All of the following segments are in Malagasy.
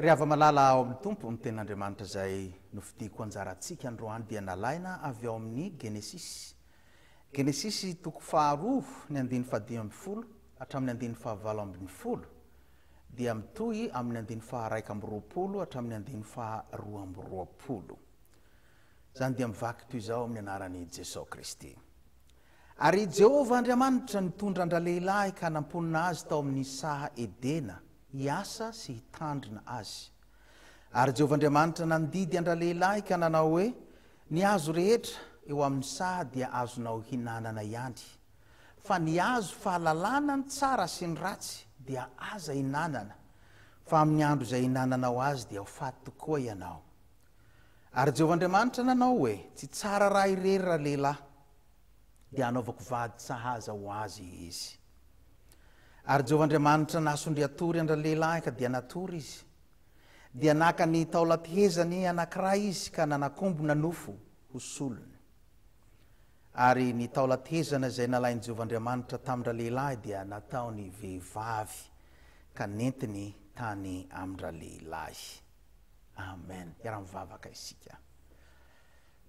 Ry hava-malala ao amin'ny Tompo, ny Tenin'Andriamanitra izay nofidiko anjarantsika androany dia nalaina avy ao amin'ny Genesisy. Genesisy toko faharoa ny andininy fahadimy ambin'ny folo hatramin'ny andininy fahavalo ambin'ny folo dia mitohy amin'ny andininy faharaika amby roapolo hatramin'ny andininy faharoa amby roapolo. Izany dia mivaky toy izao amin'ny anaran'i Jesosy Kristy. Ary i Jehovah Andriamanitra nitondra an-dralehilahy ka namponina azy tao amin'ny saha Edena. hiasa sy hitandrina azy. Ary Jehovah Andriamanitra nandidy an-dralehilahy ka nanao hoe, Ny hazo rehetra eo amin'ny saha dia azonao hinanana ihany, fa ny hazo fahalalana ny tsara sy ny ratsy dia aza hinanana, fa amin'ny andro izay hinananao azy dia ho faty tokoa ianao. Ary Jehovah Andriamanitra nanao hoe, Tsy tsara raha irery ralehilahy, dia hanaovako vady sahaza ho azy izy. Ary Jehovah Andriamanitra nasondry hatory an-dralehilahy ka dia natory izy. Dia naka ny taolam-pehezany anankiray izy ka nanakombona nofo ho solony. Ary ny taolam-pehezana izay nalain'i Jehovah Andriamanitra tamin-dralehilahy dia nataony vehivavy ka nentiny tany amin-dralehilahy. Amen. Iaraha-mivavaka isika.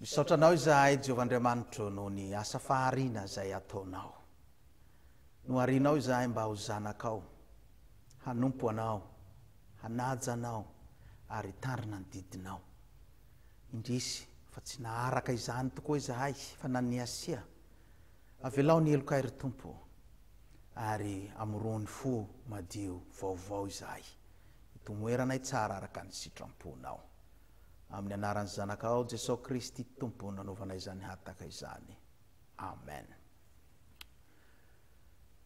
Misaotra Anao izahay, Jehovah Andriamanitro, noho ny asa fahariana izay ataonao. Noharianao izahay mba ho zanakao, hanompo Anao, hanaja Anao, ary hitandrina ny didinao. Indrisy fa tsy naharaka izany tokoa izahay, fa naniasia. Avelao ny helokay, ry Tompo, ary amoroho ny fo madio vaovao izahay, hitomoeranay tsara araka ny sitram-ponao. Amin'ny anaran'ny Zanakao Jesosy Kristy Tompo no nanaovana izany hataka izany. Amen.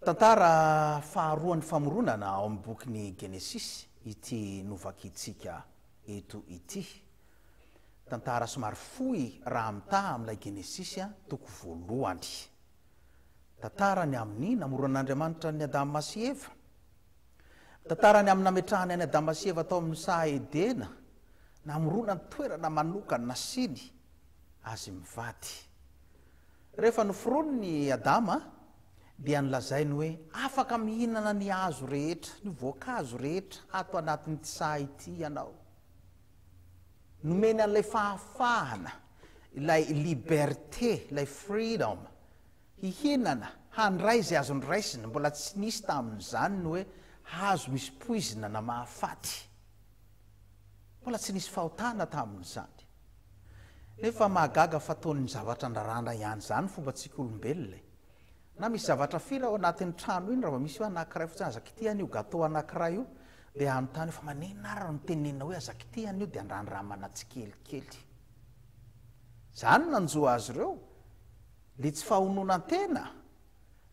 Tantara faharoan'ny famoronana ao amin'ny bokin'ny Genesisy ity novakintsika eto ity. Tantara somary fohy raha mitaha amin'ilay Genesisy toko voalohany. Tantara ny amin'ny namoronan'Andriamanitra an'i Adama sy Eva. Tantara ny amin'ny nametrahany an'i Adama sy Eva tao amin'ny saha Edena, namoronany toerana manokana nasiany azy mivady. Rehefa noforoniny i Adama, dia nolazainy hoe afaka mihinana ny hazo rehetra, ny voankazo rehetra ato anatin'ity saha ity ianao. Nomeny an'ilay fahafahana, ilay liberté, ilay freedom, Hihinana, handray izay azony raisina, mbola tsy nisy tamin'izany ny hoe hazo misy poizina na mahafaty. Mbola tsy nisy fahotana tamin'izany. Nefa mahagaga fa toy ny zavatra andrarana ihany izany ny fombantsika olombelona e! Na misy zavatra fira ao anatin'ny trano iny, raha vao misy hoe anankiray fotsiny, aza kitihana an'io gateau anankiray io, dia hanontany hoe fa maninona ary no tenenina hoe aza kitihana io dia andrandramana tsikelikely. Izany no nanjo azy ireo, Dia tsy fahononan-tena?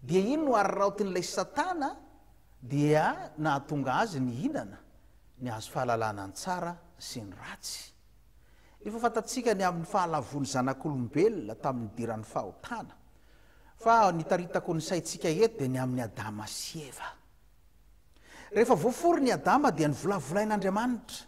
Dia iny no ary raotin'ilay satana dia nahatonga azy nihinana ny hazo fahalalana ny tsara sy ny ratsy. Efa fantatsika ny amin'ny fahalavoan'ny zanak'olombelona tamin'ny nidiran'ny fahotana, fa nitaritako ny saintsika eto dia ny amin'i Adama sy Eva. Rehefa voaforon' i Adama dia novolavolain'Andriamanitra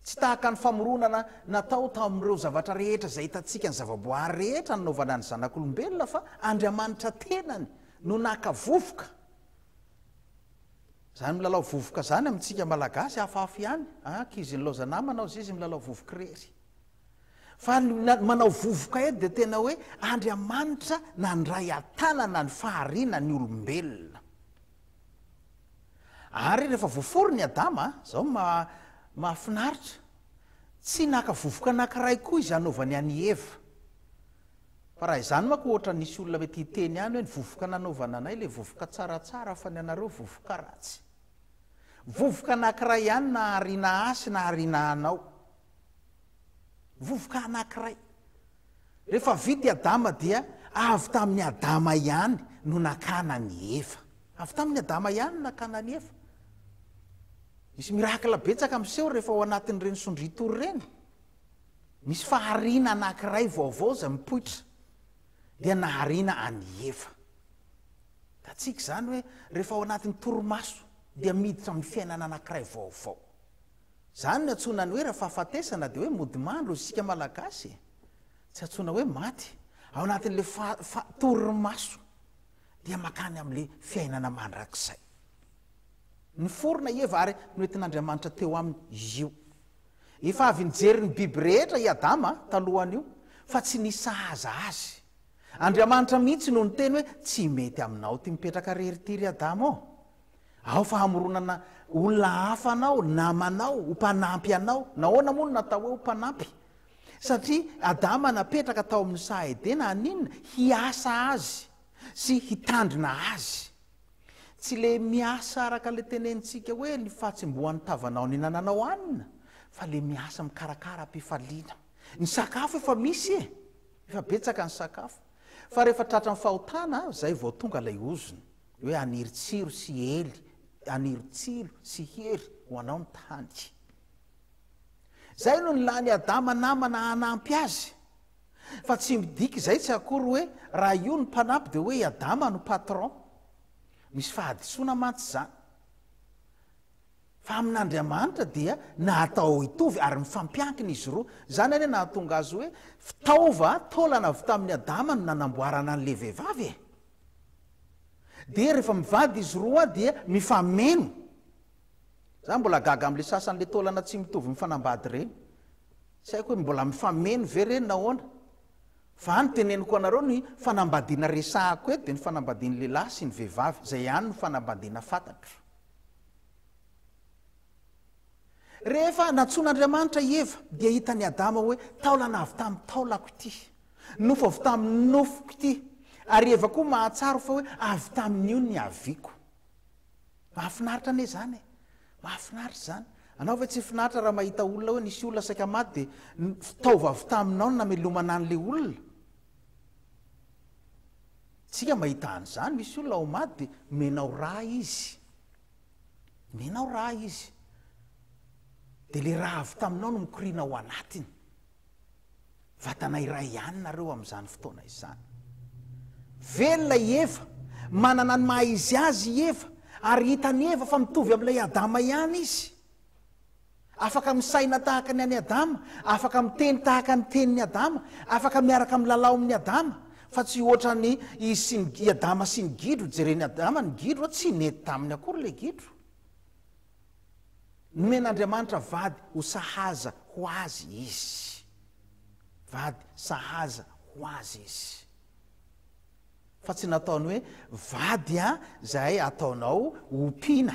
Tsy tahaka ny famoronana natao tamin'ireo zavatra rehetra izay hitantsika ny zavaboary rehetra nanaovana ny zanak'olombelona fa Andriamanitra tenany no naka vovoka. Izany milalao vovoka izany amintsika Malagasy hafahafa ihany an, ankizy nilaoza namana hozy izy milalao vovoka irery. Fa ny manao vovoka eto dia tena hoe Andriamanitra nandray an-tanana ny fahariana ny olombelona. Ary rehefa voaforona i Adama, izao no maha mahafinaritra, tsy naka vovoka anankiray koa izy hanaovany an' i Eva. Fa raha izany manko ohatra nisy olona mety hiteny any hoe ny vovoka nanaovana anay ilay vovoka tsaratsara fa ny anareo vovoka ratsy. Vovoka anankiray ihany na hariana ahy sy na hariana anao. Vovoka anankiray. Rehefa vita i Adama dia avy tamin'i Adama ihany no nakana an'i Eva. Avy tamin'i Adama ihany no nakana an'i Eva. Misy miracle betsaka miseho rehefa ao anatin'ireny sondriatory ireny. Misy fahariana anankiray vaovao izay mipoitra. Dia nahariana an'i Eva. Hitantsika izany hoe rehefa ao anatin'ny torimaso dia miditra amin'ny fiainana anankiray vaovao. Zany no antsoina ny hoe raha fahafatesana dia hoe mody mandro isika malagasy e! Tsy antsoina hoe maty, ao anatin'ilay faha fa torimaso dia makany amin'ilay fiainana mandrakizay. Niforona i Eva ary noentin'Andriamanitra teo aminy izy io. Efa avy nijery ny biby rehetra i Adama talohan'io fa tsy nisy sahaza azy. Andriamanitra mihitsy no niteny hoe tsy mety aminao ity mipetraka rery ity ry Adama ô! Ao fa hamoronana olona hafa anao, namanao, ho mpanampy anao. Nahoana moa no natao hoe ho mpanampy? Satria Adama napetraka tao amin'ny saha Edena haninona? Hiasa azy sy hitandrina azy. Tsy ilay miasa araka ilay tenenintsika hoe ny fahatsimbohan'ny tavanao nihinananao hanina, fa ilay miasa mikarakara am-pifaliana. Ny sakafo efa misy e! Efa betsaka ny sakafo. Fa rehefa tratran'ny fahotana, izay vao tonga ilay ozona. Hoe haniry tsiro sy hely, haniry tsilo sy hery ho anao ny tany. Izay no nilan'i Adama namana hanampy azy. Fa tsy midika izay tsy akory hoe raha io ny mpanampy dia hoe i Adama no patron. Misy fahadisoana mantsy izany. Fa amin'Andriamanitra dia natao hitovy ary mifampiankina izy roa. Izany anie nahatonga azy hoe fitaova, taolana avy tamin'i Adama no nanamboarana an'ilay vehivavy e! dia rehefa mivady izy roa dia mifameno, za mbola gaga amle sasany le taolana tsy mitovy mifanambady reny, tsy haiko hoe mbola mifameno ve reny nahoana, fa any teneniko anareo ny fanambadiana resahako eto dia ny fanambadian'ny lehilahy sy ny vehivavy, zay ihany no fanambadiana fatatro. Rehefa nantsoin'Andriamanitra i Eva, dia hitan'i Adama hoe taolana avy tamin'ny taolako ity, nofo avy tamin'ny nofoko ity, ary i Eva koa mahatsiaro fa hoe avy tamin'io ny haviako. Mahafinaritra anie izany e! Mahafinaritra izany. Anao ve tsy finaritra raha mahita olona hoe nisy olona saika maty dia fitaova avy taminao ny namelomana an'ilay olona? Isika mahita an'izany, misy olona ao maty dia omenao rà izy. Nenao ra izy dia le ra avy taminao no mikoriana ao anatiny. Vatana iray ihany nareo amin'izany fotoana izany. Velona i Eva, manana ny maha izy azy i Eva, ary hitan'i Eva fa mitovy amin'ilay Adama ihany izy. Afaka misaina tahaka ny an'i Adama, afaka miteny tahaka ny tenin'i Adama, afaka miaraka milalao amin'i Adama, fa tsy hoatran'i izy sy ny, i Adama sy ny gidro, jeren'i Adama ny gidro, tsy nety taminy akory ilay gidro. Nomen'Andriamanitra vady ho sahaza ho azy izy. Vady sahaza ho azy izy. Fa tsy nataony hoe, vady an, izay ataonao ompiana.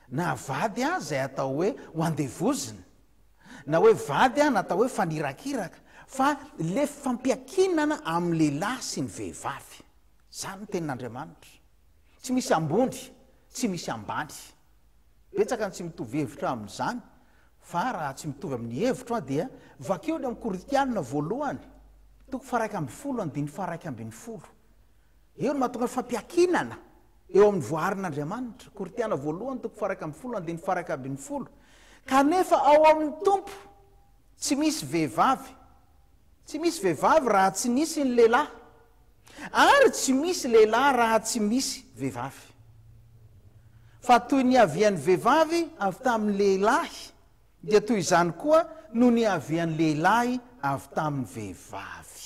Na vady aza izay atao hoe ho andevozina, na hoe vady aza natao hoe fanirakiraka, fa le fampiankinana amin'ny lehilahy sy ny vehivavy. Izany ny tenin'Andriamanitra. Tsy misy ambony, tsy misy ambany. Betsaka ny tsy mitovy hevitra amin'izany, fa raha tsy mitovy amin'ny hevitro aho dia vakio any amin'ny Korintiana voalohany, toko faha-iraika ambin'ny folo, andininy faha-iraika ambin'ny folo. Eo no mahatonga ny fampiankinana eo amin'ny voaarin'Andriamanitra, Korintiana voalohany toko faha iraika ambin'ny folo andininy faha iraika ambin'ny folo, kanefa ao amin'ny Tompo tsy misy vehivavy, tsy misy vehivavy raha tsy nisy ny lehilahy, ary tsy misy lehilahy raha tsy misy vehivavy. Fa toy ny niavian'ny vehivavy avy tamin'ny lehilahy, dia toy izany koa no niavian'ny lehilahy avy tamin'ny vehivavy.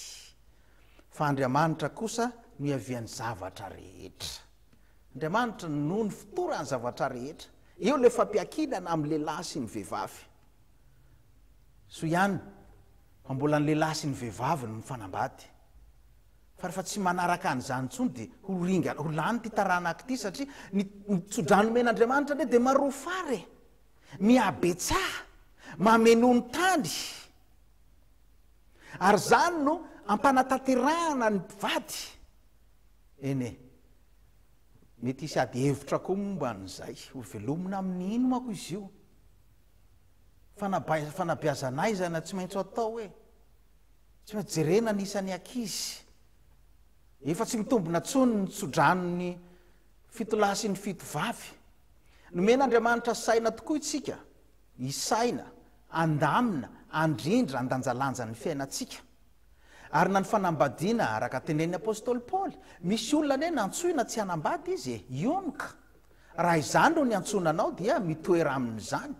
Fa Andriamanitra kosa no iavian'ny zavatra rehetra. Andriamanitra no nifotoran'ny zavatra rehetra. Eo ilay fampiankinana amin'ny lehilahy sy ny vehivavy. Soa ihany fa mbola ny lehilahy sy ny vehivavy no mifanambady. Fa rehefa tsy manaraka an'izany intsony dia ho ringana, ho lany ity taranaka ity satria ny tso-drano omen'Andriamanitra anie dia marofara e! Mihabetsaha, mameno ny tany. Ary izany no hampanatanterahana ny mpivady. Eny e! Mety hisy ady hevitra koa momba an'izay. Hovelomina amin'ny ino manko izy io? Fanabai- fanabeazana aiza na tsy maintsy atao e? Tsy maintsy jerena ny isan'ny ankizy. Efa tsy mitombina intsony ny tsodranon'ny fito lahy sy ny fito vavy. Nomen'Andriamanitra saina tokoa isika isaina, andamina, andrindra, andanjalanja ny fiainantsika. Ary na ny fanambadiana, araka tenenin'ny apostoly Paoly, misy olona anie nantsoina tsy hanambady izy e! Ion ka! Raha izany no niantsoana anao dia mitoera amin'izany.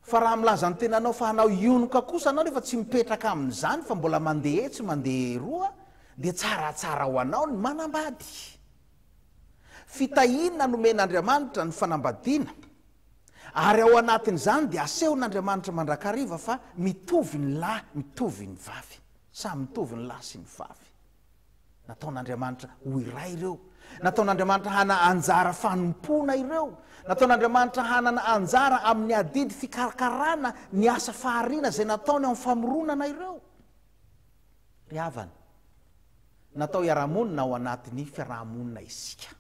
Fa raha milaza ny tenanao fa hanao ion ka kosa anao nefa tsy mipetraka amin'izany fa mbola mandeha etsy mandeha eroa dia tsaratsara ho anao ny manambady. Fitahiana nomen'Andriamanitra ny fanambadiana, ary ao anatin'izany dia asehon'Andriamanitra mandrakariva fa mitovy ny lahy, mitovy ny vavy. Samy mitovy ny lahy sy ny vavy. Nataon'Andriamanitra ho iray ireo. Nataon'Andriamanitra hanana anjara fanompoana ireo. Nataon'Andriamanitra hanana anjara amin'ny adidy fikarakarana ny asa fahariana izay nataony amin'ny famoronana ireo. Ry havana, natao hiara-monina ao anatin'ny fiaraha-monina isika.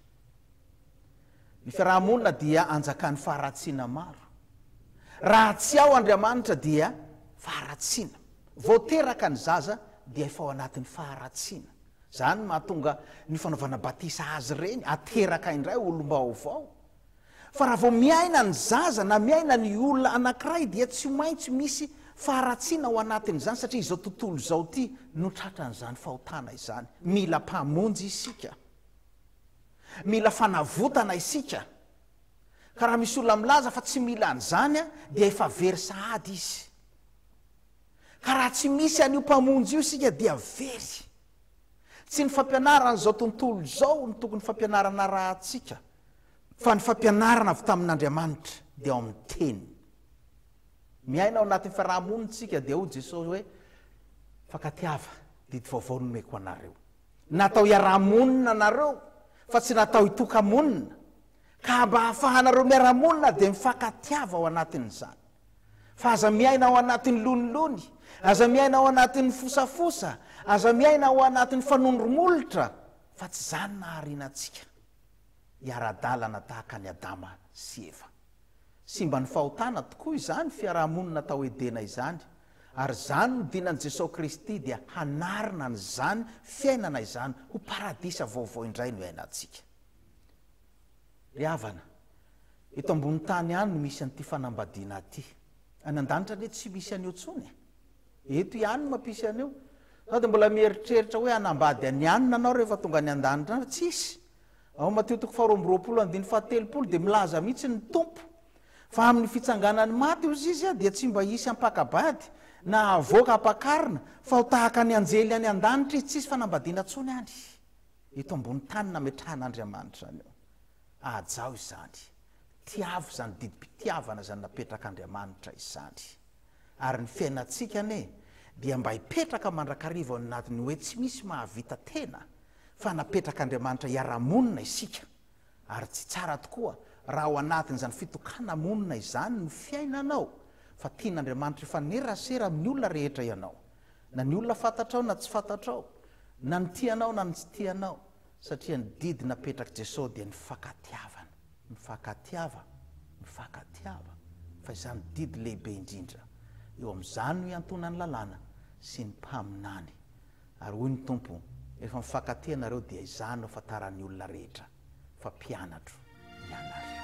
Ny fiaraha-monina dia anjakan'ny faharatsiana maro. Raha tsy ao Andriamanitra dia faharatsiana. Vao teraka ny zaza dia efa ao anatin'ny faharatsiana. Izany no mahatonga ny fanaovana batisa azy ireny, ateraka indray olom-baovao, Fa raha vao miaina ny zaza na miaina ny olona anankiray dia tsy maintsy misy faharatsiana ao anatin'izany satria izao tontolo izao ity no tratran'izany fahotana izany. Mila Mpamonjy isika. Mila fanavotana isika. Ka raha misy olona milaza fa tsy mila an'izany dia efa very sahady izy. Ka raha tsy misy an'io Mpamonjy io isika dia very. Tsy ny fampianaran'izao tontolo izao no tokony fampianarana arahantsika, fa ny fampianarana avy tamin'Andriamanitra, dia ao amin'ny Teniny. Miaina ao anatin'ny fiaraha-monintsika, dia hoy Jesosy hoe, Fankatiava, didy vaovao no nomeko anareo. Natao hiara-monina nareo, fa tsy natao hitoka-monina. Ka mba hahafahanareo miara-monina, dia mifankatiava ao anatin'izany. Fa aza miaina ao anatin'ny lonilony, aza miaina ao anatin'ny fosafosa, aza miaina ao anatin'ny fanondromolotra, fa tsy izany nahariana antsika. Hiara-dalana tahaka an'i Adama sy Eva. Simban'ny fahotana tokoa izany fiaraha-monina tao Edena izany, ary izany no dinan'i Jesoa Kristy dia hanarina an'izany fiainana izany ho paradisa vaovao indray no iainantsika. Ry havana, eto ambony tany ihany no misy an'ity fanambadiana ity. Any an-danitra anie tsy misy an'io intsony e! Eto ihany no mampisy an'io. Sao dia mbola mieritreritra hoe hanambady an'i Anne ianao rehefa tonga any an-danitra any? Tsisy! Ao amin'ny Matio toko faharoa amby roapolo andininy fahatelopolo dia milaza mihitsy ny Tompo fa amin'ny fitsanganan'ny maty hozy Izy dia tsy mba hisy hampaka-bady na havoaka hampakarina fa ho tahaka ny anjely any an-danitra Izy. Tsisy fanambadiana intsony any. Eto ambony tany nametrahan'Andriamanitra anio. Hajaho izany. Tiavo izany didim-pitiavana izany napetrak'Andriamanitra izany. Ary ny fiainantsika anie dia mba hipetraka mandrakariva ao anatin'ny hoe tsy misy mahavita tena fa napetrak'Andriamanitra hiara-monina isika. Ary tsy tsara tokoa raha ao anatin'izany fitokana-monina izany no fiainanao fa tian'Andriamanitra hifanerasera amin'ny olona rehetra ianao. na ny olona fantatrao na tsy fantatrao, na ny tianao na ny tsy tianao, satria ny didy napetrak'i Jesosy dia ny fankatiavana, mifankatiava, mifankatiava, fa izany didy lehibe indrindra, eo amin'izany no iantonan'ny lalàna sy ny mpaminany, ary hoy ny Tompo, rehefa mifankatia ianareo dia izany no ahafantaran'ny olona rehetra. fa mpianatro ianareo.